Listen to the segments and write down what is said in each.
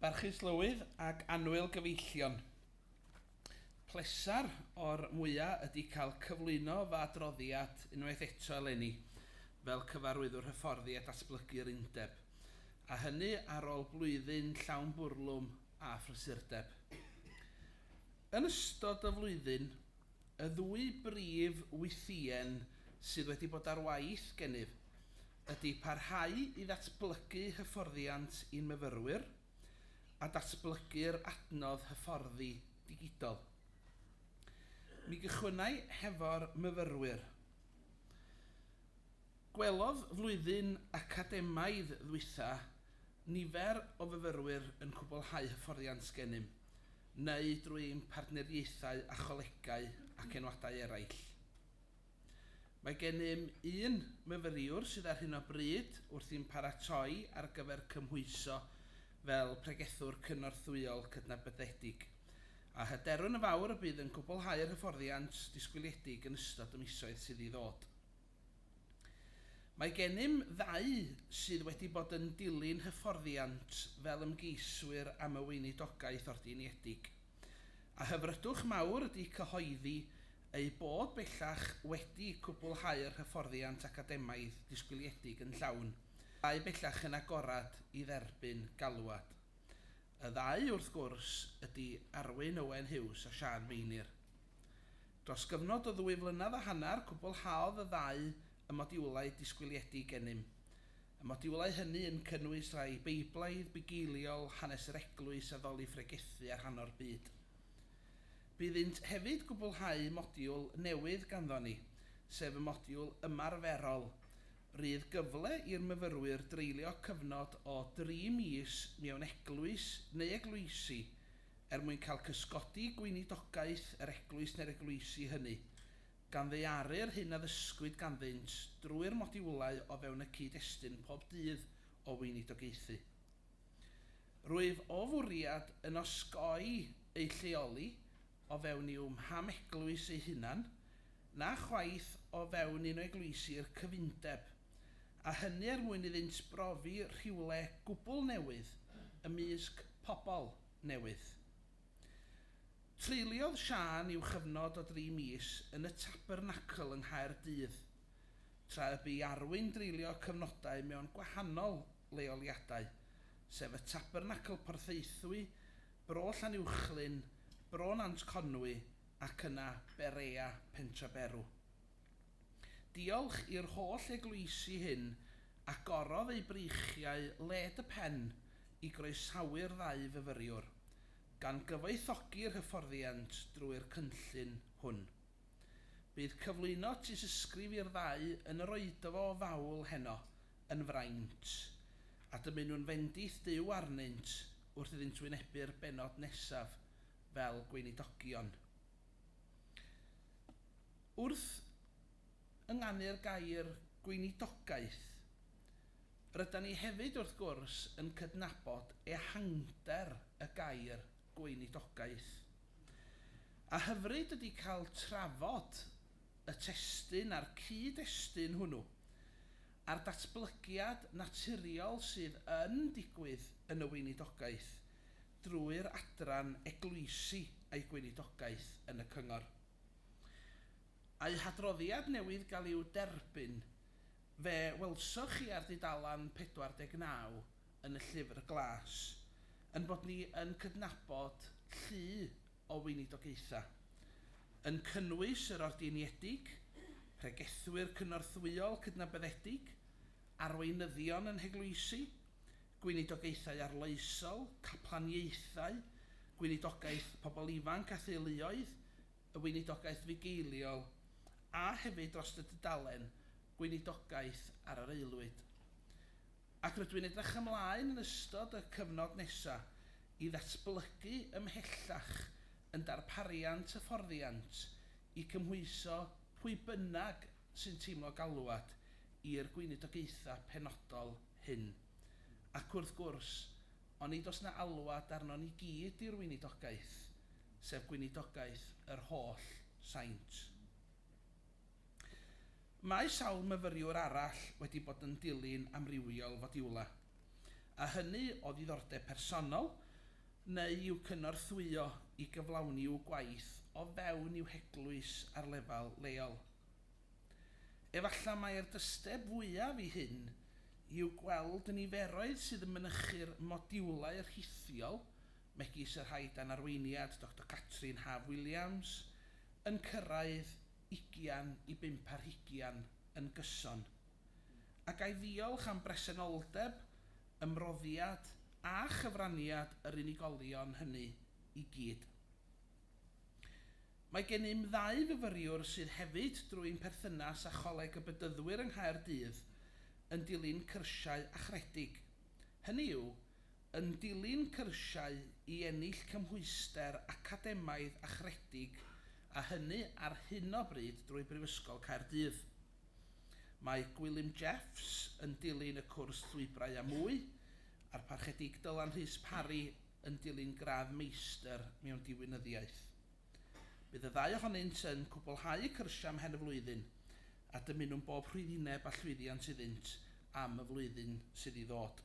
Barchus Lywydd ac annwyl gyfeillion. Pleser o'r mwyaf ydy cael cyflwyno fy adroddiad unwaith eto eleni fel cyfarwyddwr hyfforddi a datblygu'r undeb, a hynny ar ôl blwyddyn llawn bwrlwm a phrysurdeb. Yn ystod y flwyddyn Y ddwy brif wythïen sydd wedi bod ar waith gennyf ydy parhau i ddatblygu hyfforddiant i'n myfyrwyr a datblygu'r adnodd hyfforddi digidol. Mi gychwynnai hefo'r myfyrwyr. Gwelodd flwyddyn academaidd ddwytha nifer o fyfyrwyr yn cwblhau hyfforddiant gennym, neu drwy ein partneriaethau â cholegau ac enwadau eraill. Mae gennym un myfyriwr sydd ar hyn o bryd wrthi'n paratoi ar gyfer cymhwyso fel pregethwr cynorthwyol cydnabyddedig, a hyderwn yn fawr y bydd yn gwblhau'r hyfforddiant disgwyliedig yn ystod y misoedd sydd i ddod. Mae gennym ddau sydd wedi bod yn dilyn hyfforddiant fel ymgeiswyr am y Weinidogaeth Ordingiedig, a hyfrydwch mawr ydy cyhoeddi eu bod bellach wedi cwblhau'r hyfforddiant academaidd disgwyliedig yn llawn, dau bellach yn agored i dderbyn galwad. Y ddau, wrth gwrs, ydy Arwyn Owen Hughes a Siân Meinir. Dros gyfnod o ddwy flynedd a hanner, cwblhaodd y ddau y modiwlau disgwyliedig gennym. Y modiwlau hynny yn cynnwys rhai Beiblaidd, bugeiliol, hanes yr Eglwys, addoli phregethu a rhan o'r byd. Bydd ynt hefyd gwblhau modiwl newydd ganddo ni, sef y modiwl ymarferol. Rydd gyfle i'r myfyrwyr dreulio cyfnod o dri mis mewn eglwys neu eglwysi er mwyn cael cysgodi gweinidogaeth yr eglwys neu'r eglwysi hynny, gan ddaearu'r hyn a ddysgwyd ganddynt drwy'r modiwlau o fewn y cyd-destun pob dydd o weinidogaethu. Rwyf o fwriad yn osgoi eu lleoli o fewn i'w mham eglwys eu hunan, na chwaith o fewn un o eglwysi'r cyfundeb. a hynny er mwyn iddynt brofi rhywle gwbl newydd ymysg pobl newydd. Treuliodd Siân i'w chyfnod o dri mis yn y Tabernacl yng Nghaerdydd, tra y bu i Arwyn dreulio cyfnodau mewn gwahanol leoliadau, sef y Tabernacl Porthaethwy, Bro Llanuwchllyn, Bro Nant Conwy ac yna Berea Pentraberw. Diolch i'r holl eglwysi hyn, agorodd eu breichiau led y pen i groesawu'r ddau fyfyriwr, gan gyfoethogi'r hyfforddiant drwy'r cynllun hwn. Bydd cyflwyno tystysgrif i'r ddau yn yr oedfa o fawl heno yn fraint, a dymunwn fendith Duw arnynt wrth iddynt wynebu'r bennod nesaf fel gweinidogion. Wrth ynganu'r gair 'gweinidogaeth', rydan ni hefyd, wrth gwrs, yn cydnabod ehangder y gair 'gweinidogaeth'. A hyfryd ydy cael trafod y testun a'r cyd-destun hwnnw, a'r datblygiad naturiol sydd yn digwydd yn y weinidogaeth, drwy'r adran Eglwysi a'i Gweinidogaeth yn y Cyngor. A'u hadroddiad newydd gael i'w derbyn, fe welsoch chi ar dudalen 49 yn y Llyfr Glas, yn bod ni yn cydnabod llu o weinidogaethau, yn cynnwys yr Ordeiniedig, Pregethwyr Cynorthwyol Cydnabyddedig, Arweinyddion yn Heglwysi, gweinidogaethau arloesol, caplaniaethau, gweinidogaeth pobl ifanc a theuluoedd, y weinidogaeth fugeiliol, a hefyd dros y dudalen Gweinidogaeth ar yr Aelwyd. Ac rydw i'n edrych ymlaen yn ystod y cyfnod nesaf i ddatblygu ymhellach yn darpariant hyfforddiant i cymhwyso pwy bynnag sy'n teimlo galwad i'r gweinidogaethau penodol hyn. Ac wrth gwrs, onid oes 'na alwad arnon ni gyd i'r weinidogaeth, sef gweinidogaeth yr holl saint? Mae sawl myfyriwr arall wedi bod yn dilyn amrywiol fodiwlau, a hynny o ddiddordeb personol neu i'w cynorthwyo i gyflawni i'w gwaith o fewn i'w heglwys ar lefel leol. Efallai mai'r dysteb fwyaf i hyn yw gweld y niferoedd sydd yn mynychu'r modiwlau rhithiol, megis y rhai dan arweiniad Doctor Catrin Haf Williams, yn cyrraedd ugian i bump ar hugian yn gyson. A ga i ddiolch am bresenoldeb, ymroddiad a chyfraniad yr unigolion hynny i gyd. Mae gennym ddau fyfyriwr sydd hefyd, drwy'n perthynas â Choleg y Bedyddwyr yng Nghaerdydd, yn dilyn cyrsiau achredig, hynny yw, yn dilyn cyrsiau i ennill cymhwyster academaidd achredig a hynny ar hyn o bryd drwy Brifysgol Caerdydd. Mae Gwilym Jeffs yn dilyn y cwrs Llwybrau a Mwy a'r Parchedig Dylan Rhys Parry yn dilyn gradd Meistr mewn Diwinyddiaeth. Bydd y ddau ohonynt yn cwblhau y cyrsiau am hen y flwyddyn a dymunwn bob rhwyddineb a llwyddiant iddynt am y flwyddyn sydd i ddod.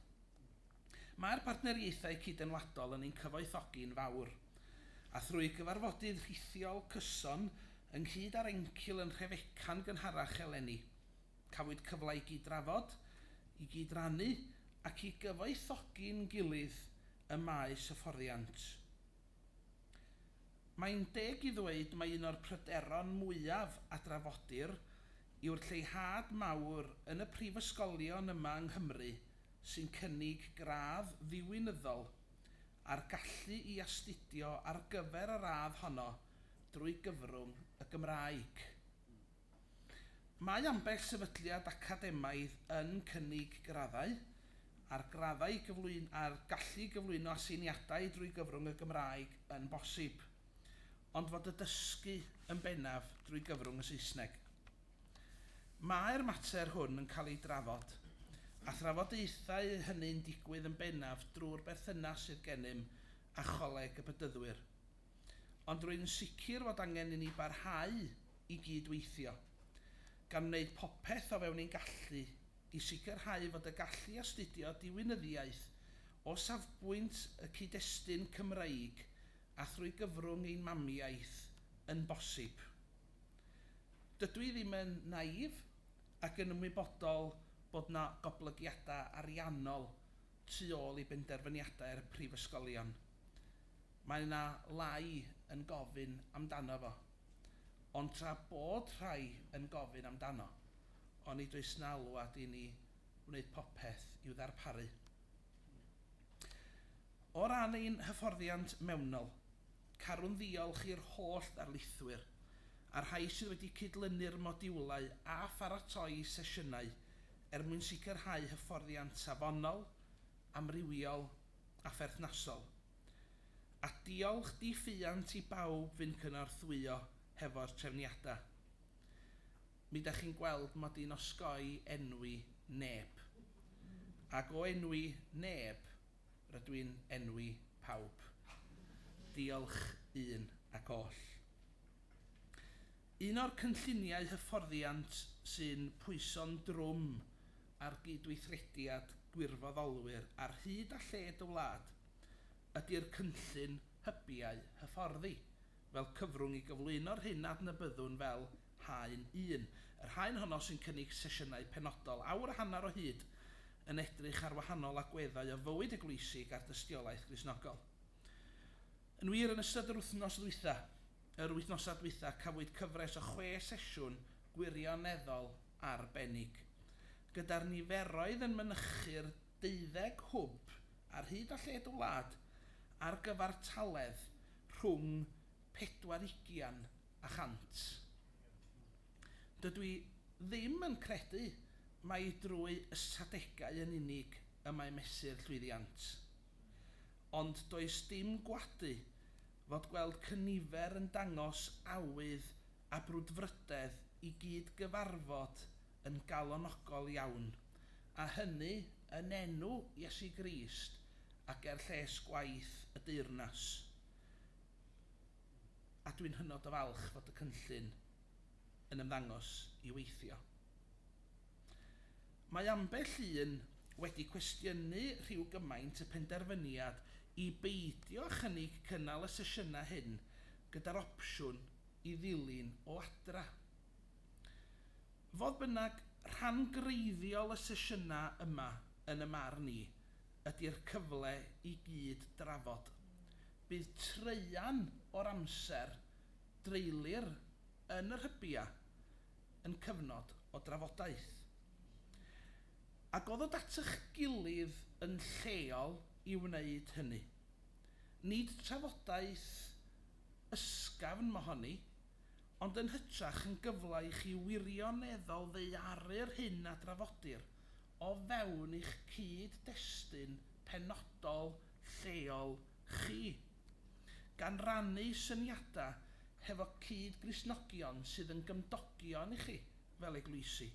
Mae'r partneriaethau cydymwladol yn ein cyfoethogi yn fawr, a thrwy gyfarfodydd rhithiol, cyson, ynghyd â'r encil yn Nhrefeca'n gynharach eleni, Cafwyd cyfle i gyd-drafod, i gyd-rannu ac i gyfoethogi'n gilydd ym maes hyfforddiant. Mae'n deg i ddweud mai un o'r pryderon mwyaf a drafodir yw'r lleihad mawr yn y prifysgolion yma yng Nghymru sy'n cynnig gradd ddiwinyddol a'r gallu i astudio ar gyfer y radd honno drwy gyfrwng y Gymraeg. Mae ambell sefydliad academaidd yn cynnig graddau, a'r graddau gyflwyn a'r gallu i gyflwyno aseiniadau drwy gyfrwng y Gymraeg yn bosib, ond fod y dysgu yn bennaf drwy gyfrwng y Saesneg. Mae'r mater hwn yn cael ei drafod, a thrafodaethau hynny'n digwydd yn bennaf drwy'r berthynas sydd gennym â Choleg y Bedyddwyr. ond rwy'n sicr fod angen i ni barhau i gyd-weithio, gan wneud popeth o fewn ein gallu i sicrhau fod y gallu astudio diwinyddiaeth o safbwynt y cyd-destun Cymreig a thrwy gyfrwng ein mamiaith yn bosib. Dydw i ddim yn naïf ac yn ymwybodol bod yna goblygiadau ariannol tu ôl i benderfyniadau'r prifysgolion. Mae yna lai yn gofyn amdano fo. Ond tra bod rhai yn gofyn amdano, onid oes 'na alwad i ni wneud popeth i'w ddarparu? O ran ein hyfforddiant mewnol, carwn ddiolch i'r holl ddarlithwyr, a'r rhai sydd wedi cydlynu'r modiwlau a pharatoi sesiynau er mwyn sicrhau hyfforddiant safonol, amrywiol a pherthnasol. A diolch di ffiant i bawb fyn cynorthwyo hefo'r trefniada. Mi da chi'n gweld mod i'n osgoi enwi neb. Ag o enwi neb, rydw i'n enwi pawb. Diolch un ac oll. Un o'r cynlluniau hyfforddiant sy'n pwyso'n drwm ar gydweithrediad gwirfoddolwyr ar hyd a lled y wlad ydy'r cynllun hybiau hyfforddi, fel cyfrwng i gyflwyno'r hyn a adnabyddwn fel Haen Un. Yr haen honno, sy'n cynnig sesiynau penodol awr a hanner o hyd, yn edrych ar wahanol agweddau o fywyd eglwysig a'r dystiolaeth Gristnogol. Yn wir, yn ystod yr wythnos ddwytha', yr wythnosau dwytha', cafwyd cyfres o chwe sesiwn gwirioneddol arbennig, gyda'r niferoedd yn mynychu'r 25 ar hyd a lled y wlad ar gyfartaledd rhwng pedwar ugian a chant. Dydw i ddim yn credu mai drwy ystadegau yn unig y mae mesur llwyddiant. Ond does dim gwadu fod gweld cynifer yn dangos awydd a brwdfrydedd i gyd-gyfarfod yn galonogol iawn, a hynny yn enw Iesu Grist ac er lles gwaith y deyrnas, a dwi'n hynod o falch fod y cynllun yn ymddangos i weithio. Mae ambell un wedi cwestiynu rhyw gymaint y penderfyniad i beidio â chynnig cynnal y sesiynau hyn gyda'r opsiwn i ddilyn o adra. Fodd bynnag, rhan greiddiol y sesiynau yma, yn y marn i, ydy'r cyfle i gyd drafod. Bydd traean o'r amser dreulir yn yr hybiau yn cyfnod o drafodaeth. Agoddwyd at eich gilydd yn lleol i wneud hynny. Nid trafodaeth ysgafn mohoni, ond yn hytrach yn gyfle i chi wirioneddol ddaearu'r hyn a drafodir o fewn eich cyd-destun penodol lleol chi, gan rannu syniadau hefo cyd-Gristnogion sydd yn gymdogion i chi fel eglwysi,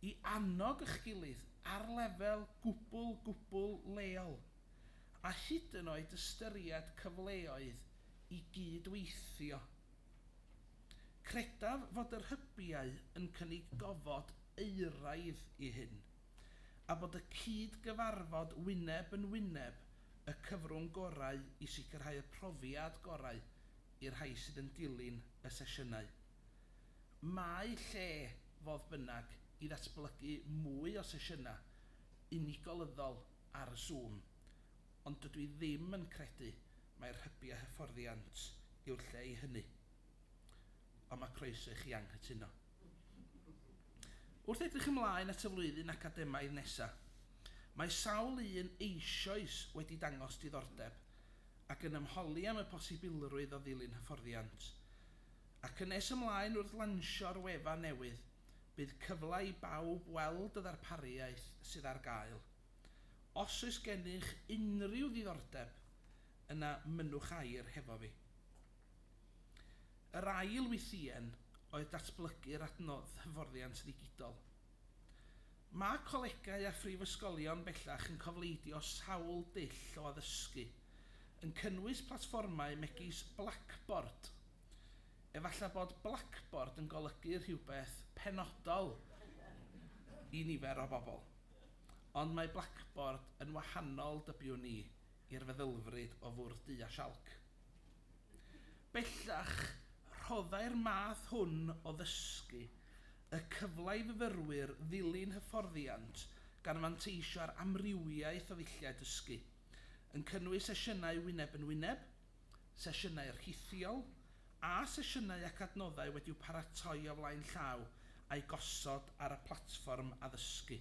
i annog eich gilydd ar lefel gwbl, gwbl leol, a hyd yn oed ystyried cyfleoedd i gyd-weithio. Credaf fod yr hybiau yn cynnig gofod euraidd i hyn, a bod y cyd-gyfarfod wyneb yn wyneb y cyfrwng gorau i sicrhau y profiad gorau i'r rhai sydd yn dilyn y sesiynau. Mae lle, fodd bynnag, i ddatblygu mwy o sesiynau unigolyddol ar y Zoom, Ond dydw i ddim yn credu mai rhybu a hyfforddiant yw'r lle i hynny. Ond mae croeso i chi anghytuno. Wrth edrych ymlaen at y flwyddyn academaidd nesaf, mae sawl un eisoes wedi dangos diddordeb ac yn ymholi am y posibilrwydd o ddilyn hyfforddiant. Ac yn nes ymlaen wrth lansio'r wefan newydd, bydd cyfle i bawb weld y ddarpariaeth sydd ar gael. Os oes gennych unrhyw ddiddordeb, yna mynnwch air hefo fi. Yr ail wythïen oedd datblygu'r adnodd hyfforddiant ddigidol. Mae colegau a phrifysgolion bellach yn cofleidio sawl dull o addysgu, yn cynnwys platfformau megis Blackboard. Efallai bod Blackboard yn golygu rhywbeth penodol i nifer o bobl. Ond mae Blackboard yn wahanol, dybiwn ni, i'r feddylfryd o fwrdd du a sialc. Bellach, rhoddai'r math hwn o ddysgu y cyfle i fyfyrwyr ddilyn hyfforddiant gan fanteisio ar amrywiaeth o ddulliau dysgu, yn cynnwys sesiynau wyneb yn wyneb, sesiynau rhithiol a sesiynau ac adnoddau wedi'u paratoi o flaen llaw a'u gosod ar y platfform addysgu.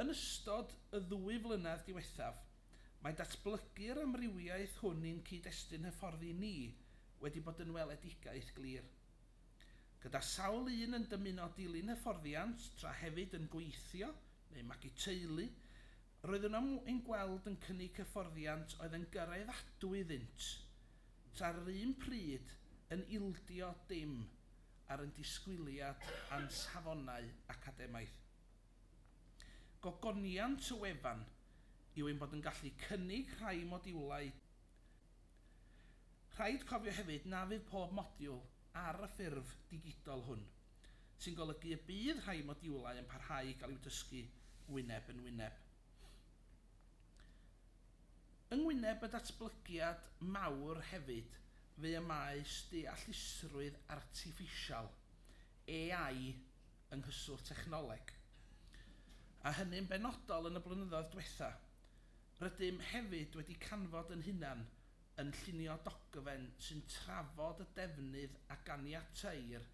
Yn ystod y ddwy flynedd diwethaf, mae datblygu'r amrywiaeth hwn i'n cyd-destun hyfforddi ni wedi bod yn weledigaeth glir, gyda sawl un yn dymuno dilyn hyfforddiant tra hefyd yn gweithio neu magu teulu, Roeddwn am ein gweld yn cynnig hyfforddiant oedd yn gyraeddadwy iddynt, tra ar yr un pryd yn ildio dim ar ein disgwyliad a'n safonau academaidd. Gogoniant y wefan yw ein bod yn gallu cynnig rhai modiwlau Rhaid cofio hefyd na fydd pob modiwl ar y ffurf digidol hwn. sy'n golygu y bydd rhai modiwlau yn parhau i gael i'w dysgu wyneb yn wyneb. Yng ngwyneb y datblygiad mawr hefyd fu y maes deallusrwydd artiffisial, AI, yng nghyswllt technoleg, a hynny'n benodol yn y blynyddoedd diwetha'. Rydym hefyd wedi canfod yn hunan yn llunio dogfen sy'n trafod y defnydd a ganiateir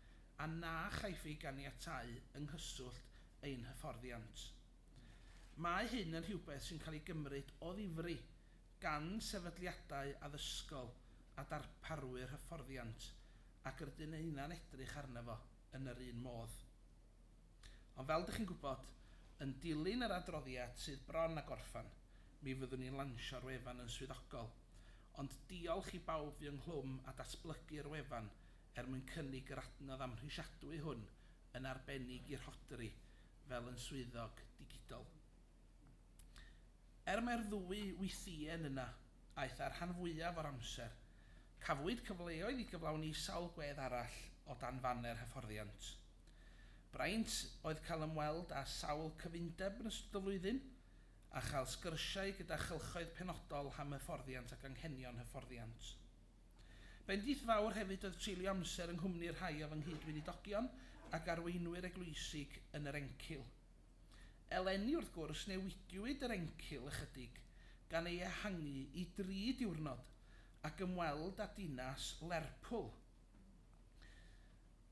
a na chaiff ei ganiatáu yng nghyswllt ein hyfforddiant. Mae hyn yn rhywbeth sy'n cael ei gymryd o ddifri gan sefydliadau addysgol a darparwyr hyfforddiant ac rydyn ninnau'n edrych arno fo yn yr un modd. Ond fel dych chi'n gwybod, yn dilyn yr adroddiad sydd bron â gorffen, mi fyddwn ni'n lansio'r wefan yn swyddogol. Ond diolch i bawb fu ynghlwm â datblygu'r wefan er mwyn cynnig yr adnodd amhrisiadwy hwn, yn arbennig i Rhodri fel yn swyddog digidol. Er mai'r ddwy wythïen yna aeth â'r rhan fwyaf o'r amser, cafwyd cyfleoedd i gyflawni sawl gwedd arall o dan faner hyfforddiant. Braint oedd cael ymweld â sawl cyfundeb yn ystod y flwyddyn, a chael sgyrsiau gyda chylchoedd penodol am hyfforddiant ac anghenion hyfforddiant. Bendith fawr hefyd oedd treulio amser yng nghwmni rhai o fy nghyd-weinidogion ac arweinwyr eglwysig yn yr Encil. Eleni, wrth gwrs, newidiwyd yr encil ychydig, gan ei ehangu i dri diwrnod, ac ymweld â dinas Lerpwl.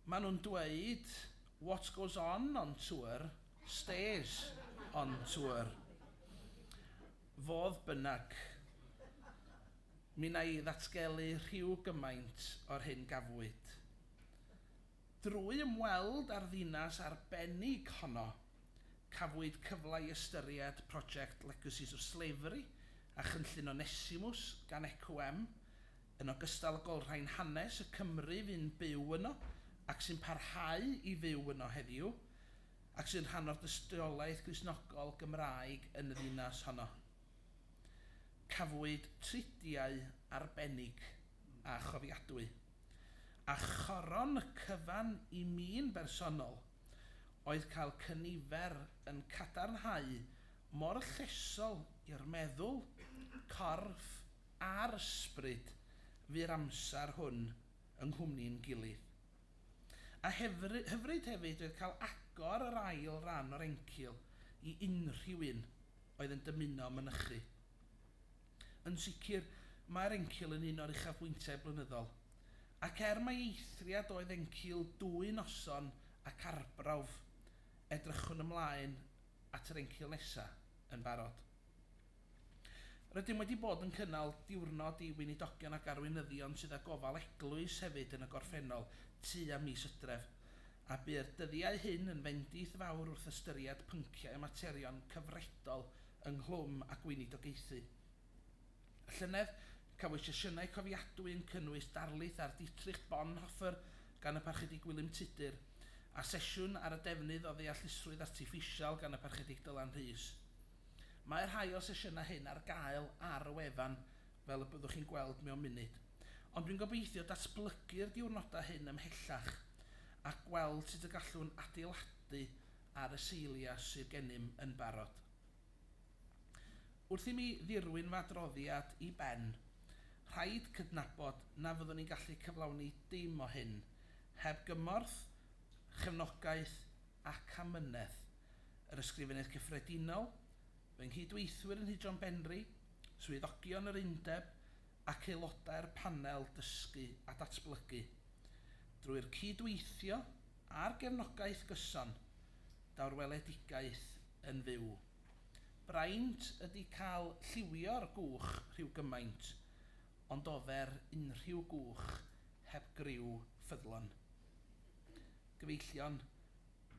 Maen nhw'n dweud 'What goes on on tour stays on tour'. Fodd bynnag, mi wna i ddatgelu rhyw gymaint o'r hyn gafwyd. Drwy ymweld â'r ddinas arbennig honno, cafwyd cyfle i ystyried prosiect Legacies of Slavery a chynllun Onesimus gan ECWM, yn ogystal ag olrhain hanes y Cymry fu'n byw yno ac sy'n parhau i fyw yno heddiw, ac sy'n rhan o'r dystiolaeth Gristnogol Gymraeg yn y ddinas honno. Cafwyd tridiau arbennig a chofiadwy. A choron cyfan i mi'n bersonol oedd cael cynifer yn cadarnhau mor llesol i'r meddwl, corff a'r ysbryd fu'r amser hwn yng nghwmni'n gilydd. A hyfryd hefyd oedd cael agor yr ail ran o'r encil i unrhyw un oedd yn dymuno mynychu. Yn sicr, mae'r Encil yn un o'r uchafbwyntiau blynyddol. Ac er mai eithriad oedd Encil dwy noson ac arbrawf, edrychwn ymlaen at yr Encil nesaf yn barod. Rydym wedi bod yn cynnal diwrnod i Weinidogion ac Arweinyddion sydd â gofal eglwys hefyd yn y gorffennol tua mis Hydref, a bu'r dyddiau hyn yn fendith fawr wrth ystyried pynciau a materion cyfredol ynghlwm â gweinidogaethu. Y llynedd, cafwyd sesiynau cofiadwy yn cynnwys darlith ar Dietrich Bonhoeffer gan y Parchedig Gwilym Tudur, a sesiwn ar y defnydd o ddeallusrwydd artiffisial gan y Parchedig Dylan Rhys. Mae rhai o'r sesiynau hyn ar gael ar y wefan, fel y byddwch chi'n gweld mewn munud, ond dwi'n gobeithio datblygu'r diwrnodau hyn ymhellach a gweld sut y gallwn adeiladu ar y seilia sydd gennym yn barod. Wrth i mi ddirwyn fy adroddiad i ben, rhaid cydnabod na fyddwn i'n gallu cyflawni dim o hyn heb gymorth, chefnogaeth ac amynedd yr Ysgrifennydd Cyffredinol, fy nghyd-weithwyr yn Nhŷ-drom Benri, swyddogion yr Undeb ac aelodau'r Panel Dysgu a Datblygu. Drwy'r cyd-weithio, a'r gefnogaeth gyson daw'r weledigaeth yn fyw. Braint ydi cael lliwio'r gwch rhyw gymaint, ond ofer unrhyw gwch heb griw ffyddlon. Gyfeillion,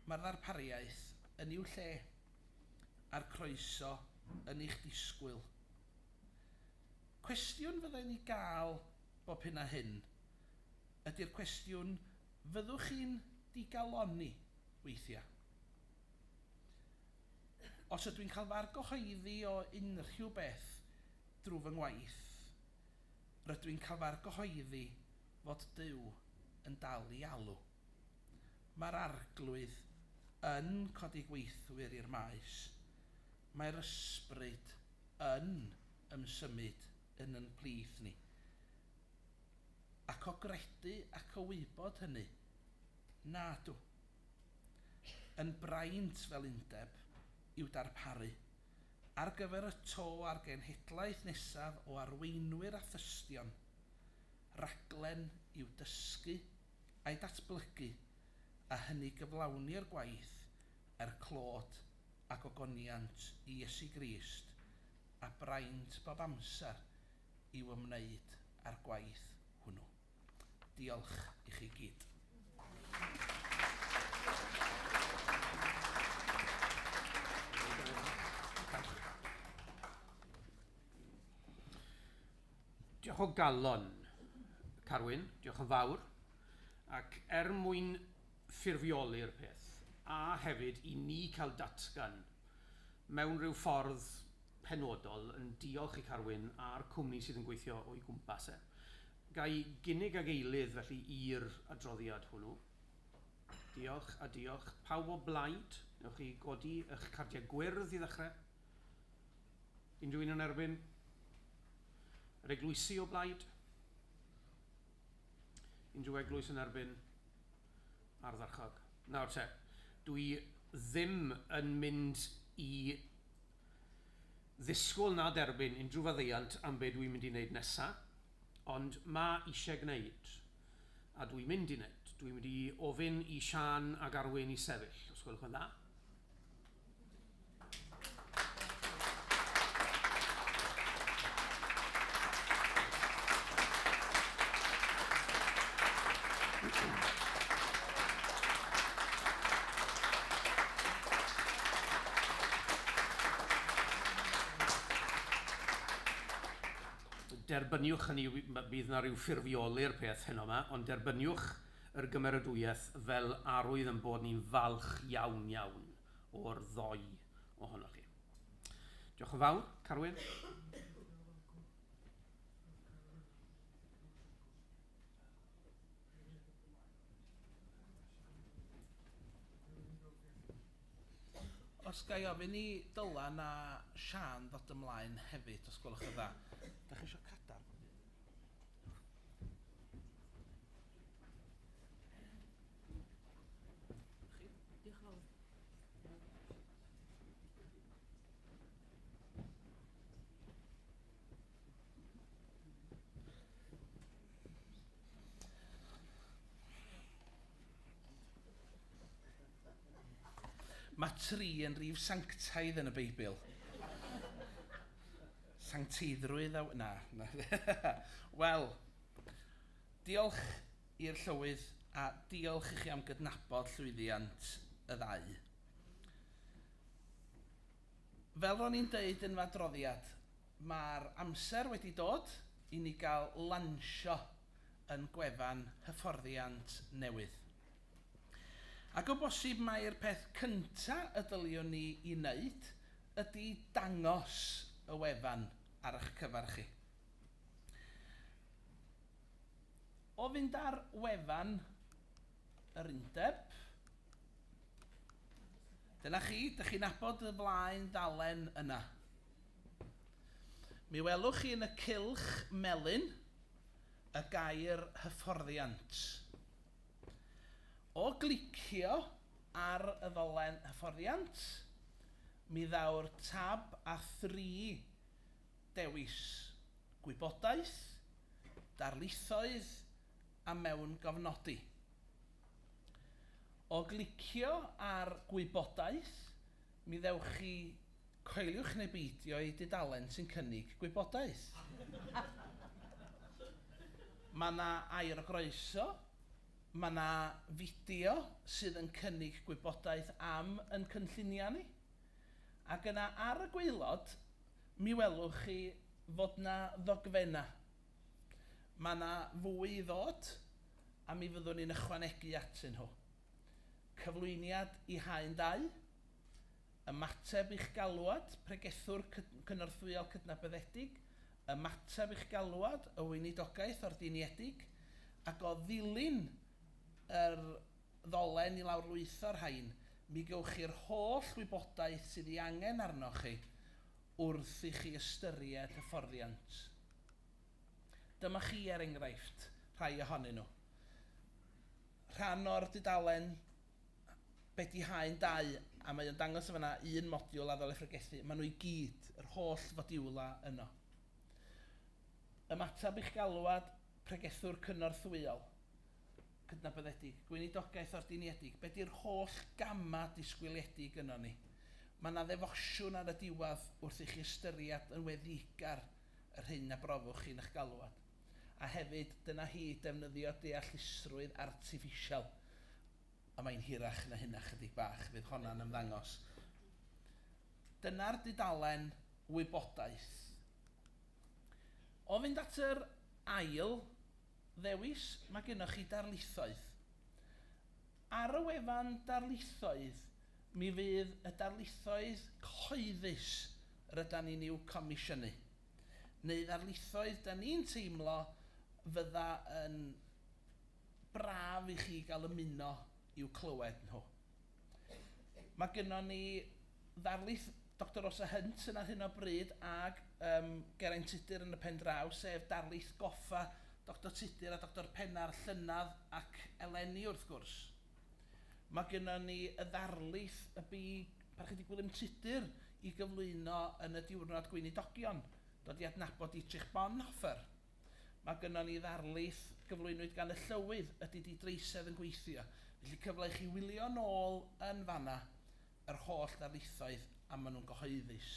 mae'r ddarpariaeth yn i'w lle, a'r croeso yn eich disgwyl. Cwestiwn fydda i'n ei gael bob hyn a hyn, ydy'r cwestiwn, fyddwch chi'n digalonni weithiau? Os ydw i'n cael fy argyhoeddi o unrhyw beth drwy fy ngwaith, rydw i'n cael fy argyhoeddi fod Duw yn dal i alw. Mae'r Arglwydd yn codi gweithwyr i'r maes. Mae'r Ysbryd yn ymsymud yn yn plith ni. Ac o gredu ac o wybod hynny? Nadw. Yn braint fel undeb i'w darparu ar gyfer y to a'r genhedlaeth nesaf o arweinwyr a thystion, raglen i'w dysgu a'i datblygu a hynny gyflawnir gwaith er clod a gogoniant i Iesu Grist a braint bob amser i'w ymwneud â'r gwaith hwnnw. Diolch i chi gyd. Diolch o galon, Carwyn, diolch yn fawr. Ac er mwyn ffurfioli'r peth, a hefyd i ni cael datgan mewn rhyw ffordd... penodol yn diolch i Carwyn a'r cwmni sydd yn gweithio o'i gwmpas e. Ga i gynnig ag eilydd felly i'r adroddiad hwnnw? Diolch a diolch. Pawb o blaid, newch chi godi eich cardiau gwyrdd i ddechrau? Unrhyw un yn erbyn? Yr eglwysi o blaid? Unrhyw eglwys yn erbyn? Ardderchog. Nawr te, dwi ddim yn mynd i ddisgwyl na derbyn unrhyw faddeuant am be dwi'n mynd i wneud nesa, ond ma' isie gwneud, a dwi'n mynd i wneud. Dwi'n mynd i ofyn i Siân a Garwyn i sefyll, os gwelwch yn dda. derbyniwch, hynny yw, bydd yna ryw ffurfioli'r peth heno yma, ond derbyniwch yr gymeradwyaeth fel arwydd yn bod ni'n falch iawn, iawn o'r ddoi ohonoch chi. Diolch yn fawr, Carwyn. Os ga i ofyn i Dylan a Siân ddod ymlaen hefyd, os gwelwch yn dda. Dach chi isio cadarn? Mae tri yn rif sanctaidd yn y Beibl. Sancteiddrwydd a... na, na. Wel, diolch i'r Llywydd a diolch i chi am gydnabod llwyddiant y ddau. Fel ro'n i'n deud yn fy adroddiad, Mae'r amser wedi dod i ni gael lansio yn gwefan hyfforddiant newydd. Ac o bosib mai'r peth cynta y dyliwn ni i wneud ydy dangos y wefan ar ych cyfer chi. O fynd ar wefan yr undeb, dyna chi, dych chi'n abod y flaen ddalen yna. Mi welwch chi yn y cylch melyn y gair 'hyfforddiant'. O glicio ar y ddolen 'hyfforddiant', mi ddaw'r tab â thri dewis, Gwybodaeth, Darlithoedd a Mewngofnodi. O glicio ar 'Gwybodaeth', Mi ddewch chi, coeliwch neu beidio ei dudalen sy'n cynnig gwybodaeth. Mae yna air o groeso, mae yna fideo sydd yn cynnig gwybodaeth am yn cynlluniau ni, ac yna ar y gwaelod mi welwch chi fod yna ddogfennau. Mae yna fwy i ddod a mi fyddwn ni'n ychwanegu atyn nhw. Cyflwyniad i haen ddau, Ymateb i'ch galwad, Pregethwr cynorthwyol cydnabyddedig, Ymateb i'ch galwad, y Weinidogaeth ordiniedig, ac o ddilyn yr ddolen i lawrlwytho'r rhain, mi gewch chi'r holl wybodaeth sydd ei angen arnoch chi wrth i chi ystyried hyfforddiant. Dyma chi, er enghraifft, rhai ohonyn nhw. rhan o'r dudalen Be 'di Haen Dau? a mae o'n dangos yn fan'na un modiwl a ddylai phregethu. Maen nhw i gyd, yr holl fodiwlau yno. Ymateb i'ch galwad, pregethwr cynorthwyol, cydnabyddedig, gweinidogaeth ordiniedig, be 'di'r holl gamau disgwyliedig gynnon ni? Mae 'na ddefosiwn ar y diwedd wrth i chi ystyried yn weddïgar yr hyn a brofwch chi yn eich galwad. a hefyd dyna hi, defnyddio deallusrwydd artiffisial, ond mae'n hirach na hynna chydig bach, fydd honna'n ymddangos. Dyna'r dudalen wybodaeth. O fynd at yr ail ddewis, mae gennych chi darlithoedd. Ar y wefan darlithoedd, mi fydd y darlithoedd cyhoeddus rydan ni'n i'w comisiynu. neu ddarlithoedd 'da ni'n teimlo fydda yn braf i chi gael ymuno i'w clywed nhw. Mae gynnon ni ddarlith Doctor Rosa Hunt yn ar hyn o bryd ag yym Geraint Tudur yn y pen draw, sef darlith goffa Doctor Tudur a Doctor Pennar llynedd ac eleni wrth gwrs. Mae gennym ni y ddarlith y bu Parchedig Gwilym Tudur i gyflwyno yn y Diwrnod Gweinidogion, dod i adnabod Dietrich Bonhoeffer. Mae gennym ni ddarlith gyflwynwyd gan y Llywydd, ydy di dreisedd yn gweithio? Felly cyfle i chi wylio nôl yn fan yna yr holl ddarlithoedd a maen nhw'n gyhoeddus.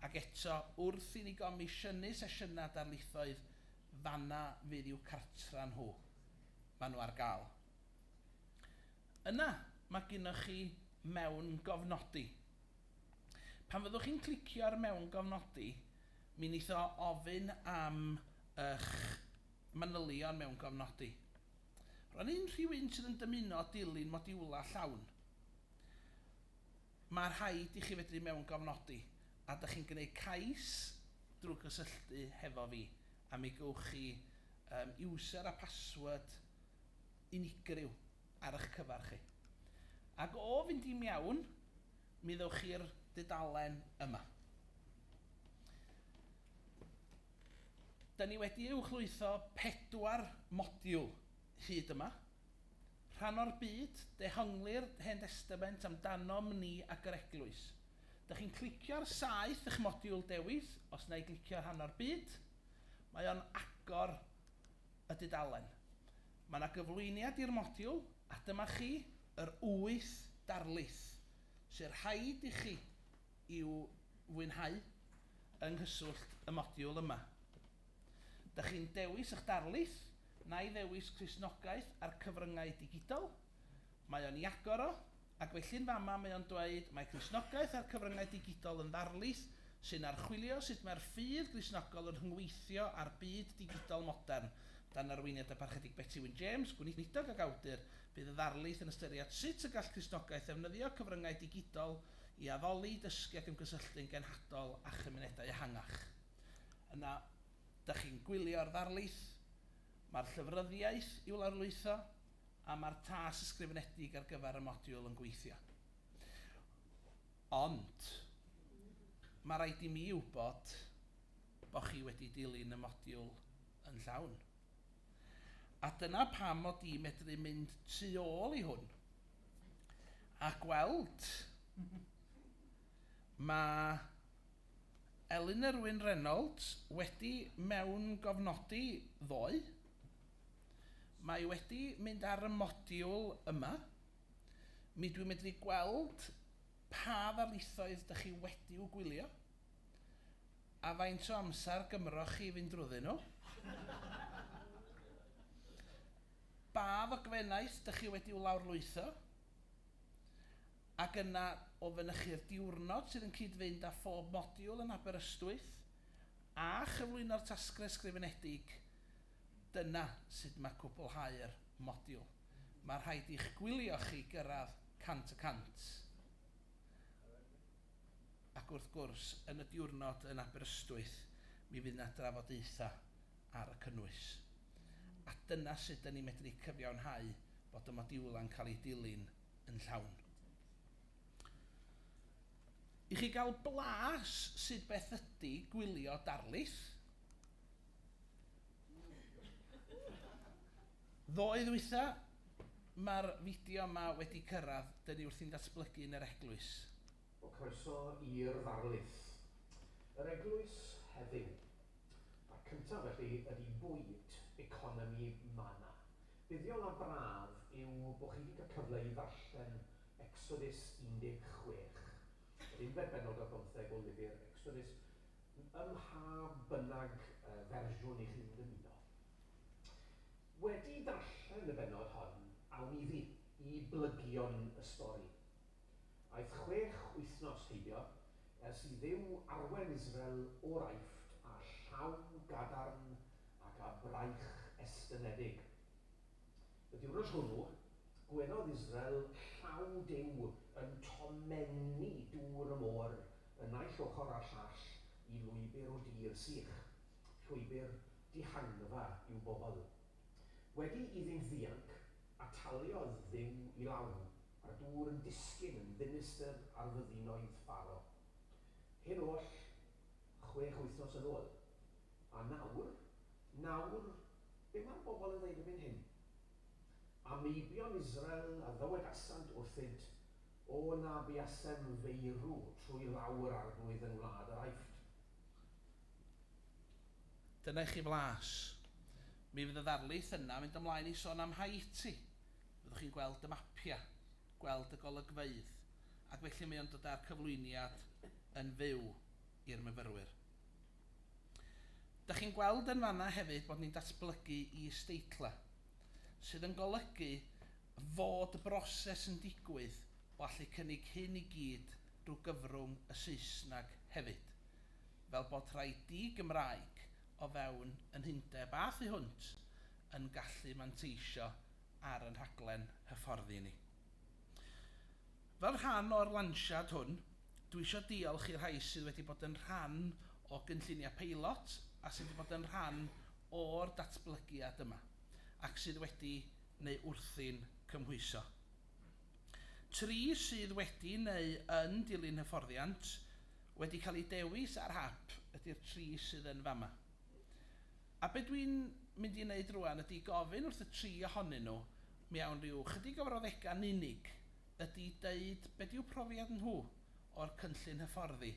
Ac eto, wrth i ni gomisiynu sesiynau darlithoedd, fan'na fydd i'w cartra nhw. Maen nhw ar gael. Yna, mae gennych chi mewngofnodi. Pan fyddwch chi'n clicio ar mewngofnodi, mi wneith o ofyn am eich manylion mewngofnodi. Rwan unrhyw un sydd yn dymuno dilyn modiwlau llawn, mae rhaid i chi fedru mewngofnodi, a dych chi'n gwneud cais drwy gysylltu hefo fi, a mi gewch chi user a password unigryw ar ych cyfer chi. Ac o fynd i mewn, mi ddewch chi'r dudalen yma. Da ni wedi uwchlwytho pedwar modiwl hyd yma. Rhan o'r byd, dehongli'r Hen Destament amdanom ni ac yr Eglwys. Da chi'n clicio ar saeth eich modiwl dewis, os na i glicio rhan o'r byd, mae o'n agor y dudalen. Mae yna gyflwyniad i'r modiwl a dyma chi yr wyth darlith sy'n rhaid i chi i'w fwynhau yng nghyswllt y modiwl yma. Dych chi'n dewis eich darlith, nai ddewis Cristnogaeth a'r Cyfryngau Digidol. Mae o'n iagor o, ac felly'n fama mae o'n dweud mae Cristnogaeth a'r cyfryngau digidol yn ddarlith sy'n archwilio sut mae'r ffydd Gristnogol yn rhyngweithio â'r byd digidol modern. Dan arweiniad y Parchedig Betty Wyn James, gweinidog ac awdur, bydd y ddarlith yn ystyried sut y gall Cristnogaeth ddefnyddio cyfryngau digidol i addoli, dysgu ac ymgysylltu'n genhadol â chymunedau ehangach. Yna, dych chi'n gwylio'r ddarlith, mae'r llyfryddiaeth i'w lawrlwytho. a mae'r tas ysgrifenedig ar gyfer y modiwl yn gweithio. Ond, mae rhaid i mi wybod bod chi wedi dilyn y modiwl yn llawn. A dyna pam mod i'n medru mynd tu ôl i hwn a gweld mae Elinor Wyn Reynolds wedi mewngofnodi ddoe. Mae wedi mynd ar y modiwl yma. Mi dwi'n medru gweld pa ddarlithoedd dych chi wedi'w gwylio a faint o amser gymroch chi i fynd drwyddyn nhw. Ba ddogfennaeth dych chi wedi'w lawrlwytho, ac yna o fynychu'r diwrnod sydd yn cyd-fynd â phob modiwl yn Aberystwyth, a chyflwyno'r tasgau ysgrifenedig Dyna sut mae cwblhau'r modiwl. Mae rhaid i'ch gwylio chi gyrraedd 100 y cant. Ac wrth gwrs, yn y diwrnod yn Aberystwyth, mi fydd 'na drafodaethau ar y cynnwys. A dyna sut 'da ni'n medru cyfiawnhau bod y modiwlau'n cael eu dilyn yn llawn. I chi gael blas sut beth ydy gwylio darlith, Ddoe ddwytha, mae'r fideo yma wedi cyrraedd, dyn ni wrthi'n datblygu yn yr eglwys. O croeso i'r ddarlith. Yr eglwys heddiw. A'r cyntaf felly ydi bwyd, economi, mana. Buddiol a braf yw bo chi di cael cyfle i ddarllen Ecsodus 16. Yr unfed bennod o'r bymtheg o lyfr Ecsodus. ym mha bynnag fersiwn i chi'n ymuno. Wedi darllen y bennod hon, awn iddi, i blygion y stori. Aeth chwech wythnos heibio ers i Dduw arwen Israel o'r Aifft â llaw gadarn ac â braich estynedig. Y diwrnod hwnnw, gwelodd Israel llaw Duw yn tomennu dŵr y môr y naill ochr a'r llall i lwybr o dir sych, llwybr dihangfa i'w bobl. Wedi iddynt ddianc, ataliodd Dduw i law, a'r dŵr yn disgyn yn ddinistr ar fyddinoedd Pharo. Hyn oll chwech wythnos yn ôl. A nawr, nawr, be mae'r bobl yn ddweud erbyn hyn? A meibion Israel a ddywedasant wrthyt, O na buasem feirw trwy law yr Arglwydd yn wlad yr Aifft. Dyna i chi flas. Mi fydd y ddarlith yna yn mynd ymlaen i sôn am Haiti. Fyddwch chi'n gweld y mapiau, gweld y golygfeydd, ac felly mae o'n dod â'r cyflwyniad yn fyw i'r myfyrwyr. Dach chi'n gweld yn fanna hefyd bod ni'n datblygu is-deitlau, sydd yn golygu fod y broses yn digwydd o allu cynnig hyn i gyd drwy gyfrwng y Saesneg hefyd, fel bod rhai di-Gymraeg o fewn yn hundeb a thu hwnt yn gallu manteisio ar yn rhaglen hyfforddi ni. Fel rhan o'r lansiad hwn, dwi isio diolch i'r rhai sydd wedi bod yn rhan o gynlluniau peilot a sydd wedi bod yn rhan o'r datblygiad yma ac sydd wedi neu wrthi'n cymhwyso. Tri sydd wedi neu yn dilyn hyfforddiant wedi cael eu dewis ar hap ydy'r tri sydd yn fama. A be dwi'n mynd i wneud rŵan ydy gofyn wrth y tri ohonyn nhw mewn rhyw 'chydig o frawddegau'n unig ydy deud beth yw profiad nhw o'r cynllun hyfforddi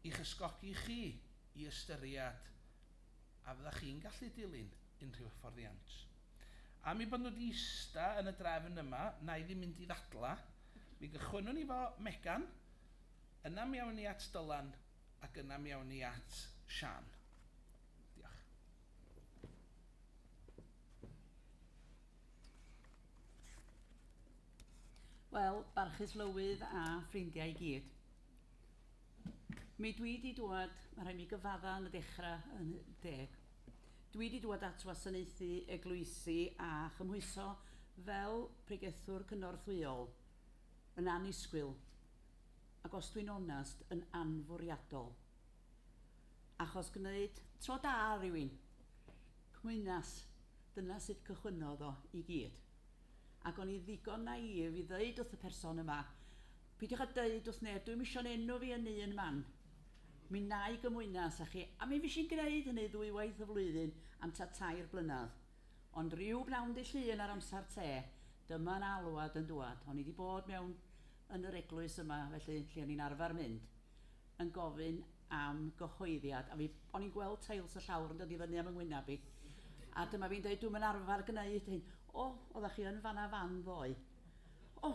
i'ch ysgogi chi i ystyried a fyddech chi'n gallu dilyn unrhyw hyfforddiant. Am ei bod nhw wedi ista yn y drefn yma, na i ddim mynd i ddadlau, mi gychwynnwn ni 'fo Megan, yna mi awn ni at Dylan ac yna mi awn ni at Siân. Diolch. Wel, barchus Lywydd a ffrindiau i gyd. Mi dwi wedi dŵad, mae rhaid mi gyfadda yn y dechrau yn deg. Dwi wedi dŵad at wasanaethu eglwysi a chymhwyso fel pregethwr cynorthwyol yn annisgwyl ac os dwi'n onest, yn anfwriadol. Achos gwneud tro da rywun. Cmwynas, dyna sut cychwynnodd o i gyd. Ac o'n i ddigon naïf i ddeud wrth y person yma, 'Peidiwch â deud wrth neb, dwi'm isio 'yn enw fi yn un man. Mi wna i gymwynas â chi. A mi fues i'n gwneud hynny ddwywaith y flwyddyn am tua tair blynedd. Ond ryw bnawn dydd Llun ar amser te, dyma 'na alwad yn dŵad. O'n i 'di bod mewn yn yr eglwys yma felly, lle o'n i'n arfer mynd. yn gofyn am gyhoeddiad, a fi... o'n i'n gweld teils y llawr yn dod i fyny am 'y ngwyneb i, a dyma fi'n dweud dwi'm yn arfer gwneud hyn. O, oeddach chi yn fan'na fan ddoe. O,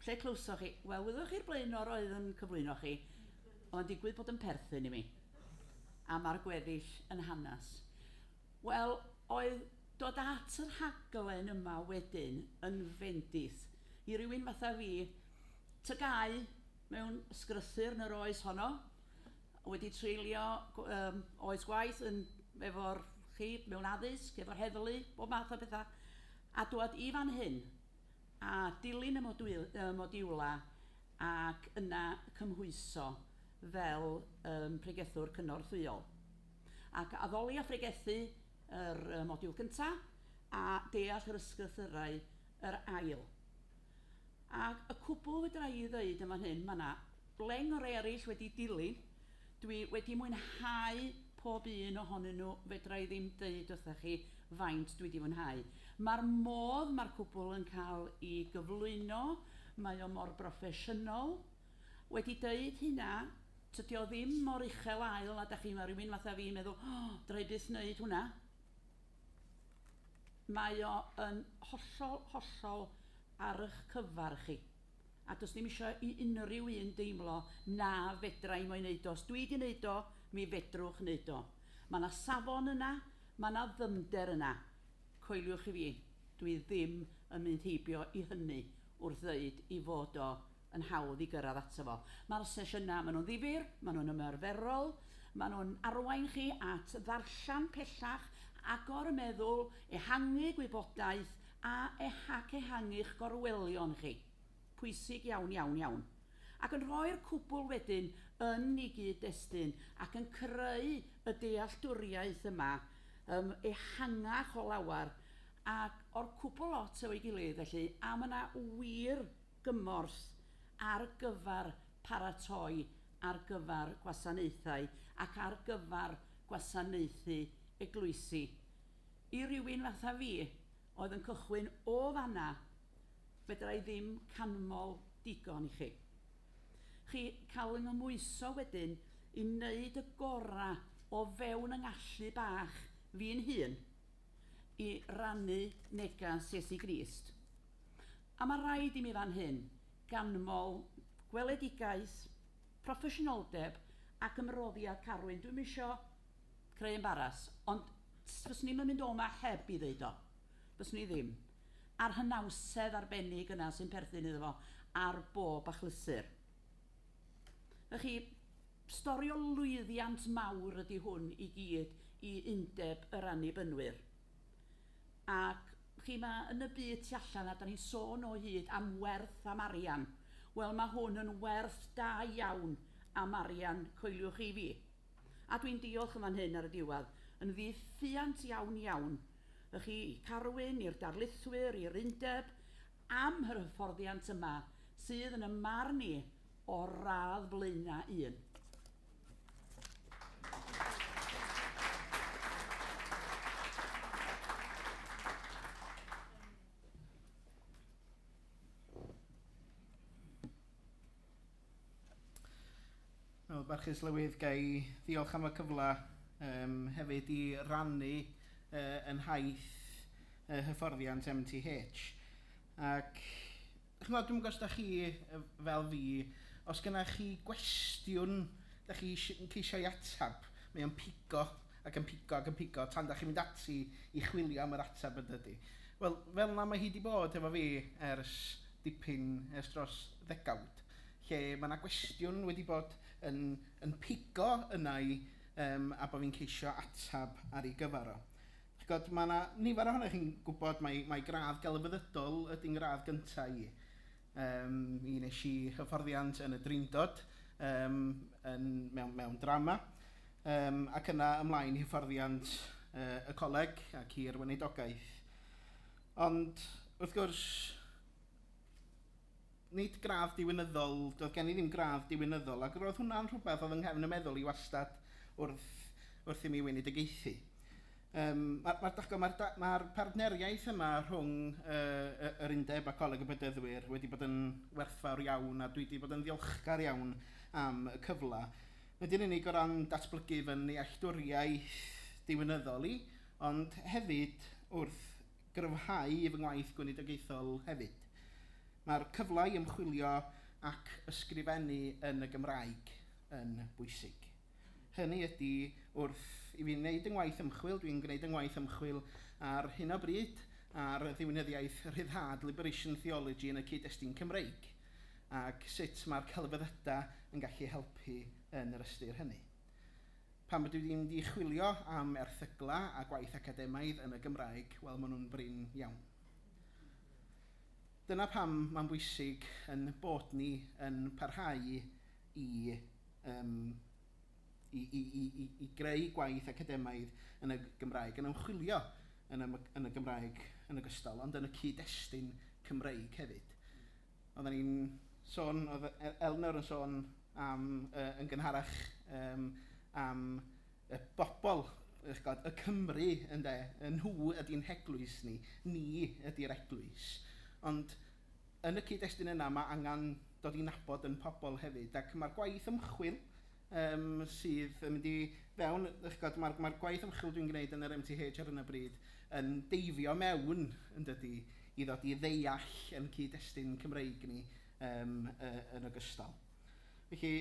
lle clywsoch chi? Wel, wyddoch chi'r blaenor oedd yn cyflwyno chi, oedd o'n digwydd bod yn perthyn i mi, a ma'r gweddill yn hanes. Wel, oedd dod at y rhaglen yma wedyn yn fendith i rywun fatha fi, tygau mewn sgrythyr yn yr oes honno, wedi treulio um, oes gwaith yn efo'r chi mewn addysg, efo'r heddlu, bob math o bethau, a dwad i fan hyn a dilyn y modwyl, uh, modiwla ac yna cymhwyso fel um, pregethwr cynorthwyol. Ac addoli a phregethu yr uh, modiwl gyntaf a deall yr ysgrythyrau yr ail. A y cwbl fedra i ddeud yn fan hyn, mae 'na leng o rei eraill wedi dilyn, dwi wedi mwynhau pob un ohonyn nhw, fedra i ddim deud wrthach chi faint dwi 'di fwynhau. Mae'r modd mae'r cwbl yn cael i gyflwyno, mae o mor broffesiynol, wedi deud hynna, tydi o ddim mor uchel ael a dach chi, mae rhywun fatha fi'n meddwl, 'O, fedra i byth wneud hwnna'. Mae o yn hollol, hollol ar eich cyfer chi, a does dim isio i unrhyw un deimlo 'na fedra i mo'i wneud o, os dwi 'di wneud o, mi fedrwch wneud o. Mae 'na safon yna, mae 'na ddyfnder yna. Coeliwch i fi, dwi ddim yn mynd heibio i hynny wrth ddeud i fod o yn hawdd i gyrraedd ato fo. Mae'r sesiynau, maen nhw'n ddifyr, maen nhw'n ymarferol, maen nhw'n arwain chi at ddarllen pellach, agor y meddwl, ehangu gwybodaeth a ac ehangu'ch gorwelion chi. Pwysig iawn, iawn, iawn. Ac yn rhoi'r cwbl wedyn yn ei gyd-destun ac yn creu y dealltwriaeth yma yym ehangach o lawer ac o'r cwbl lot efo'i gilydd felly, a mae 'na wir gymorth ar gyfer paratoi ar gyfer gwasanaethau ac ar gyfer gwasanaethu eglwysi. I rywun fatha fi, oedd yn cychwyn o fan'na, fedra i ddim canmol digon i chi. Chi cael fy nghymhwyso wedyn i wneud y gorau o fewn y ngallu bach fi'n hun i rannu neges Iesu Grist. A mae rhaid i mi fan hyn ganmol gweledigaeth, proffesiynoldeb ac ymroddiad Carwyn. Dwi'm isio creu embaras, ond fyswn i'm yn mynd o 'ma heb i ddeud o. Fyswn i ddim. A'r hynawsedd arbennig yna sy'n perthyn iddo fo ar bob achlysur. Y'ch chi, stori o lwyddiant mawr ydy hwn i gyd i Undeb yr Annibynwyr. Ac, chi, ma' yn y byd tu allan, a 'dan ni'n sôn o hyd am werth, am arian, wel, ma' hwn yn werth da iawn am arian, coeliwch chi fi. A dwi'n diolch yn fan hyn ar y diwedd yn ddiffuant iawn, iawn i chi, i Carwyn, i'r darlithwyr, i'r undeb, am yr hyfforddiant yma sydd, yn 'y marn i, o'r radd flaenau un. Wel, Barchus Lywydd, ga i ddiolch am y cyfle yym hefyd i rannu yy yn nhaith yy hyfforddiant MTH ac Chimod, dwi'm yn gwybod os dach chi fel fi, os gynnoch chi gwestiwn dach chi eisiau ceisio'i ateb, mae o'n pigo ac yn pigo ac yn pigo tan dach chi'n mynd ati i chwilio am yr ateb yn dydi. Wel, fel 'na mae hi 'di bod efo fi ers dipyn, ers dros ddegawd, lle ma' 'na gwestiwn wedi bod yn yn pigo yna i a bod fi'n ceisio ateb ar ei gyfer o. Chi'n gwybod, mae 'na nifer ohonoch chi'n gwybod mai mai gradd gelfyddydol ydy 'ngradd gyntaf i. Yym, mi wnes i hyfforddiant yn y Drindod yym yn... mewn mewn drama yym ac yna ymlaen i hyfforddiant yy y coleg ac i'r weinidogaeth. Ond, wrth gwrs, Nid gradd diwinyddol, doedd gen i ddim gradd diwinyddol, ac roedd hwnna'n rhywbeth oedd yng nghefn y meddwl i wastad wrth wrth i mi wenedigaethu. Yym, ma'r ma'r dach chibod, ma'r da- ma'r partneriaeth yma rhwng yy yy yr undeb a Coleg y Bedyddwyr wedi bod yn werthfawr iawn, a dwi 'di bod yn ddiolchgar iawn am y cyfle, nid yn unig o ran datblygu fy nealltwriaeth diwinyddol i, ond hefyd wrth gryfhau fy ngwaith gweinidogaethol hefyd. Mae'r cyfle i ymchwilio ac ysgrifennu yn y Gymraeg yn bwysig. Hynny ydi, wrth i fi wneud yng ngwaith ymchwil, dwi'n gwneud yng ngwaith ymchwil ar hyn o bryd ar ddiwinyddiaeth rhyddhad, liberation theology, yn y cyd-destun Cymreig, ac sut mae'r celfyddydau yn gallu helpu yn yr ystyr hynny. Pam ydw i wedi mynd i chwilio am erthyglau a gwaith academaidd yn y Gymraeg? Wel, maen nhw'n brin iawn. Dyna pam mae'n bwysig ein bod ni yn parhau i yym i i i i i greu gwaith academaidd yn y Gymraeg, yn ymchwilio yn y yn y Gymraeg yn ogystal, ond yn y cyd-destun Cymreig hefyd. Oedden ni'n sôn, oedd Elunor yn sôn am yy yn gynharach yym am y bobl, dach chibod, y Cymry ynde, nhw ydy'n heglwys ni, ni ydy'r eglwys. Ond yn y cyd-destun yna mae angen dod i nabod ein pobl hefyd ac mae'r gwaith ymchwil yym sydd yn mynd i fewn, dach chi'n gwybod, ma'r ma'r gwaith ymchwil dwi'n gwneud yn yr MTH ar hyn o bryd yn deifio mewn, yn dydi, i ddod i ddeall ein cyd-destun Cymreig ni yym yy yn ogystal. Felly,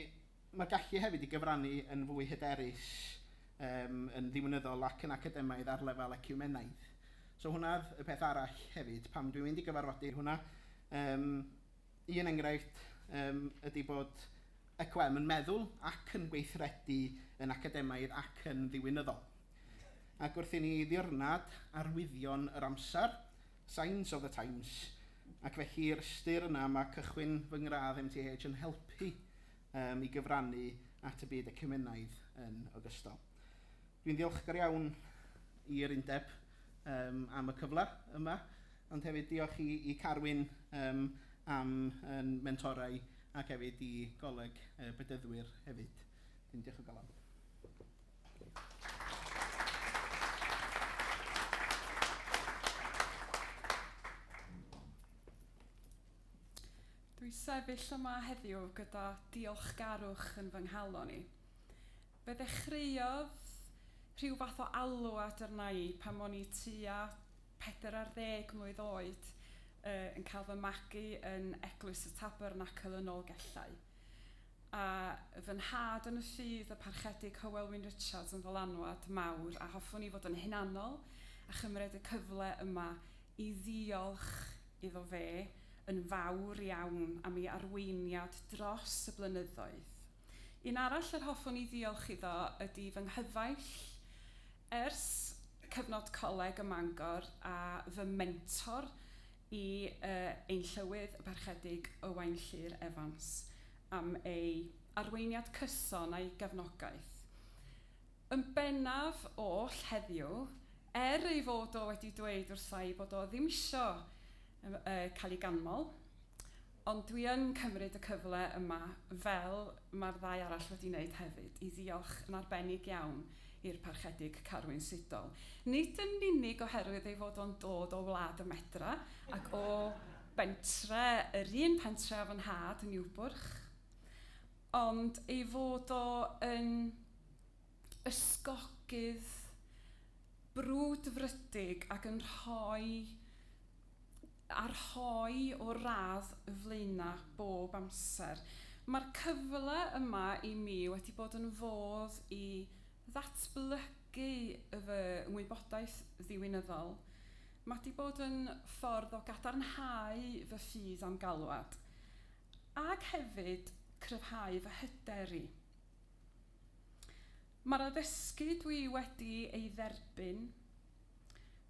ma'r gallu hefyd i gyfrannu yn fwy hyderus yym yn ddiwinyddol ac yn academaidd ar lefel eciwmenaidd. So hwnna oedd y peth arall hefyd pam dwi'n mynd i gyfarfodydd hwnna yym. Un enghraifft yym ydy bod YCOM yn meddwl ac yn gweithredu yn academaidd ac yn ddiwinyddol. Ac wrth i ni ddirnad arwyddion yr amser, signs of the times, ac felly yr ystyr yna mae cychwyn fy ngradd MTH yn helpu um, i gyfrannu at y byd ecumenaidd yn ogystal. Dwi'n ddiolchgar iawn i'r undeb yym am y cyfle yma, ond hefyd diolch i i Carwyn yym am yn mentorau ac hefyd i Goleg y Bedyddwyr hefyd. Wedyn diolch o galon. Dwi'n sefyll yma heddiw gyda diolchgarwch yn fy nghalon i. Fe ddechreuodd rhyw fath o alw at arna i pan o'n i tua pedair ar ddeg mlwydd oed, yn cael fy magu yn Eglwys y Tabernacl yn Nolgellau, a fy nhad yn y ffydd, y Parchedig Hywel Wyn Richards, yn ddylanwad mawr, a hoffwn i fod yn hunanol a chymryd y cyfle yma i ddiolch iddo fe yn fawr iawn am ei arweiniad dros y blynyddoedd. Un arall yr hoffwn i ddiolch iddo ydy fy nghyfaill ers cyfnod coleg ym Mangor a fy mentor i yy ein Llywydd y Parchedig Owain Llŷr Evans am ei arweiniad cyson a'i gefnogaeth yn bennaf oll heddiw er ei fod o wedi dweud wrtha i bod o ddim isio yy cael ei ganmol. Ond dwi yn cymryd y cyfle yma, fel mae'r ddau arall wedi wneud hefyd, i ddiolch yn arbennig iawn i'r Parchedig Carwyn Siddall, nid yn unig oherwydd ei fod o'n dod o wlad y medra ac o bentre, yr un pentre â fy nhad, Niwbwrch, ond ei fod o yn. ysgogydd brwdfrydig ac yn rhoi... a rhoi o'r radd flaenaf bob amser. Mae'r cyfle yma i mi wedi bod yn fodd i ddatblygu fy ngwybodaeth ddiwinyddol. Mae 'di bod yn ffordd o gadarnhau fy ffydd a'm galwad ac hefyd cryfhau fy hyder i. Mae'r addysgu dwi wedi ei dderbyn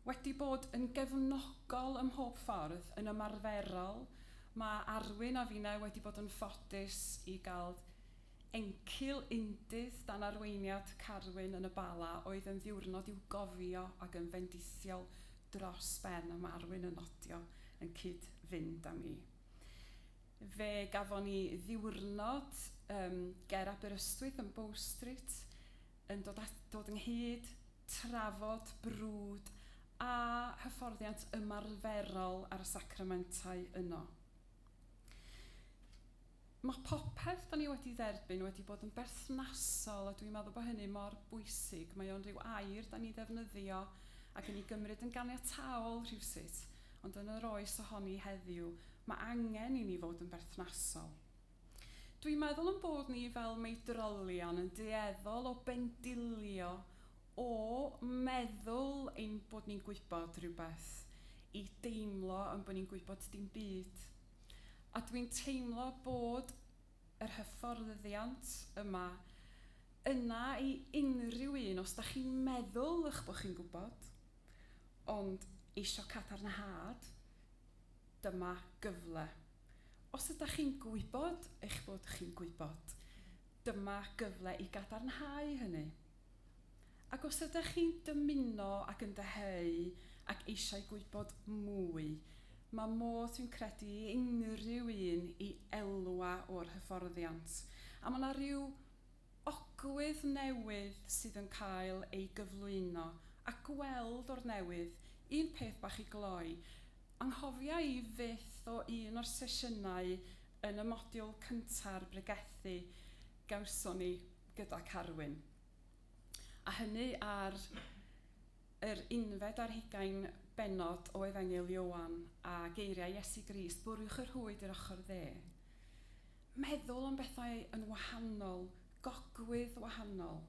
wedi bod yn gefnogol ym mhob ffordd. Yn ymarferol, mae Arwyn a finnau wedi bod yn ffodus i gael encil undydd dan arweiniad Carwyn yn y Bala oedd yn ddiwrnod i'w gofio ac yn fendithiol dros ben, a mae Arwyn yn nodio, yn cyd-fynd â mi. Fe gafon ni ddiwrnod yym ger Aberystwyth yn Bow Street yn dod at- dod ynghyd, trafod, brwd a hyfforddiant ymarferol ar y sacramentau yno. Mae popeth dan ni wedi dderbyn wedi bod yn berthnasol a dwi'n meddwl bod hynny mor bwysig, mae o'n ryw air dan ni'n ddefnyddio ac yn ei gymryd yn ganiataol rhywsut. Ond yn yr oes a hon i heddiw, mae angen i ni fod yn berthnasol. Dw i'n meddwl ein bod ni fel meidrolion yn dueddol o bendilio o meddwl ein bod ni'n gwybod rhywbeth i deimlo ein bod ni'n gwybod dim byd. A dw i'n teimlo bod yr hyfforddyddiant yma yna i unrhyw un, os dach chi'n meddwl eich bod chi'n gwybod, ond eisiau cadarnhad, dyma gyfle. Os ydach chi'n gwybod eich bod chi'n gwybod, dyma gyfle i gadarnhau hynny. Ac os ydych chi'n dymuno ac yn dyheu ac eisiau gwybod mwy, mae modd, dwi'n credu, i unrhyw un i elwa o'r hyfforddiant. A mae 'na ryw ogwydd newydd sydd yn cael ei gyflwyno a gweld o'r newydd, un peth bach i gloi, anghofia i fyth o un o'r sesiynau yn y modiwl cynta'r bregethu gawson ni. gyda Carwyn. A hynny ar yr unfed ar hugain bennod o Efengyl Ioan, a geiriau Iesu Grist, Bwriwch y rhwyd i'r ochr dde. Meddwl am bethau yn wahanol, gogwydd wahanol.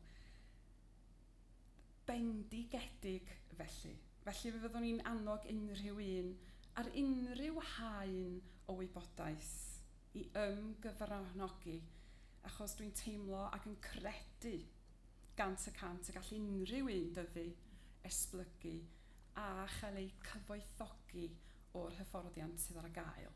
bendigedig felly. Felly, fe fyddwn i'n annog unrhyw un ar unrhyw haen o wybodaeth i ymgyfranogi, achos dwi'n teimlo ac yn credu gant y cant y gall unrhyw un dyfu, esblygu a chael eu cyfoethogi o'r hyfforddiant sydd ar gael.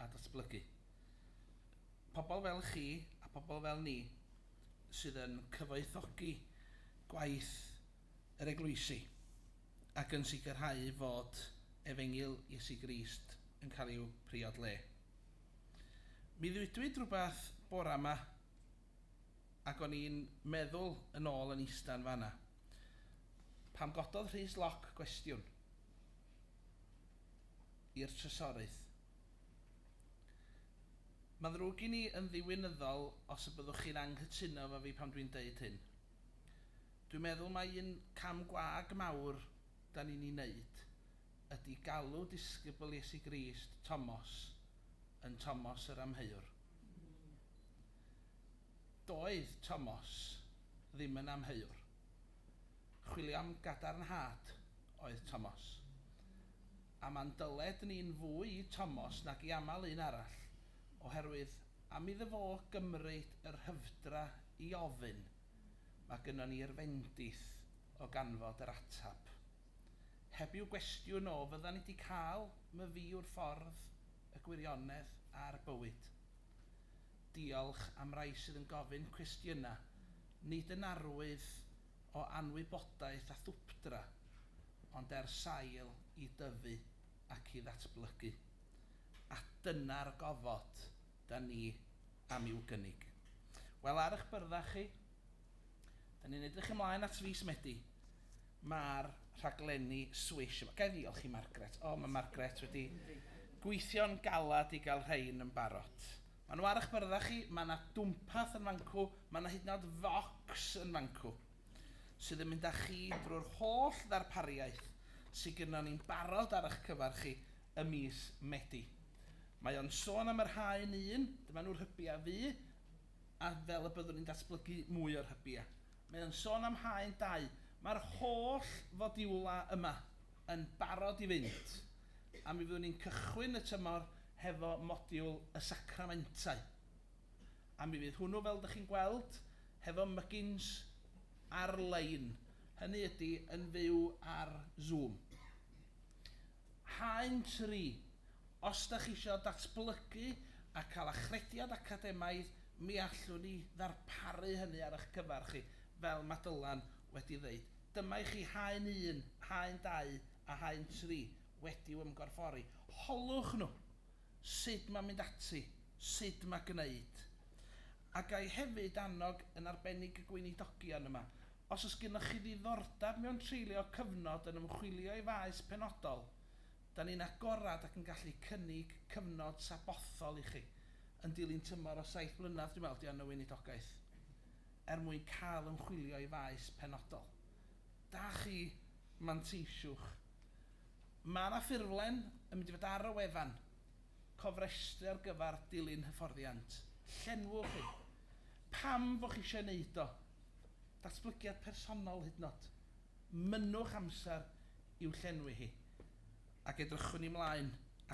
a datblygu. Pobl fel chi a pobl fel ni sydd yn cyfoethogi gwaith yr eglwysi ac yn sicrhau fod efengyl Iesu Grist yn cael i'w priod le. Mi ddwydwyd rhywbeth bore yma ac o'n i'n meddwl yn ôl yn ista yn fan'na pam gododd Rhys Lock gwestiwn. i'r trysorys. Mae'n ddrwg gen i yn ddiwinyddol os y byddwch chi'n anghytuno efo fi pan dwi'n deud hyn. Dwi'n meddwl mai un cam gwag mawr 'da ni'n ei wneud ydy galw disgybl Iesu Grist Tomos yn Tomos yr Amheuwr. Doedd Tomos ddim yn amheuwr. Chwilio am gadarnhad oedd Tomos. A man dyled ni'n fwy i Tomos nag i aml un arall, oherwydd am iddo fo gymryd y rhyfdra i ofyn, mae gynnon ni'r fendith o ganfod yr ateb. Heb i'w gwestiwn o fyddan ni 'di cael myfi yw'r ffordd, y gwirionedd a'r bywyd? Diolch am rai sydd yn gofyn cwestiynau, nid yn arwydd o anwybodaeth a thwpdra, ond er sail i dyfu ac i ddatblygu. A dyna'r gofod 'da ni am i'w gynnig. Wel, ar eich byrddau chi, 'da ni'n edrych ymlaen at fis Medi. Mae'r rhaglenni Swish yma. Ga i ddiolch i Margaret? O, mae Margaret wedi gweithio'n galed i gael rhein yn barod. Maen nhw ar eich byrddau chi, mae yna dwmpath yn fancw, mae yna hyd yn oed focs yn fancw sydd yn mynd â chi drwy'r holl ddarpariaeth sydd gynnon ni'n barod ar eich cyfer chi ym mis Medi. Mae o'n sôn am yr haen un, dyma nhw'r hybiau fu, a fel y byddwn ni'n datblygu mwy o'r hybiau. Mae o'n sôn am haen dau. Mae'r holl fodiwla yma yn barod i fynd, a mi fyddwn ni'n cychwyn y tymor hefo modiwl y sacramentau. A mi fydd hwnnw, fel dych chi'n gweld, hefo mygins ar-lein, hynny ydi yn fyw ar Zoom. Haen tri, Os dach isio datblygu a cael achrediad academaidd, mi allwn ni ddarparu hynny ar eich cyfer chi, fel mae Dylan wedi ddeud. Dyma i chi haen un, haen dau a haen tri wedi'u ymgorffori. Holwch nhw! sut mae mynd ati, sut mae gwneud. A ga i hefyd annog, yn arbennig y Gweinidogion yma, os oes gennych chi ddiddordeb mewn treulio cyfnod yn ymchwilio i faes penodol, da ni'n agored ac yn gallu cynnig cyfnod sabothol i chi, yn dilyn tymor o saith blynedd dwi'n meddwl 'di o yn y Weinidogaeth, er mwyn cael ymchwilio i faes penodol. Da chi, manteisiwch. Mae yna ffurflen yn mynd i fod ar y wefan, cofrestru ar gyfer dilyn hyfforddiant. Llenwch hi. Pam fo' chi eisiau ei wneud o? Datblygiad personol hyd yn od. Mynnwch amser i'w llenwi hi ac edrychwn i 'mlaen at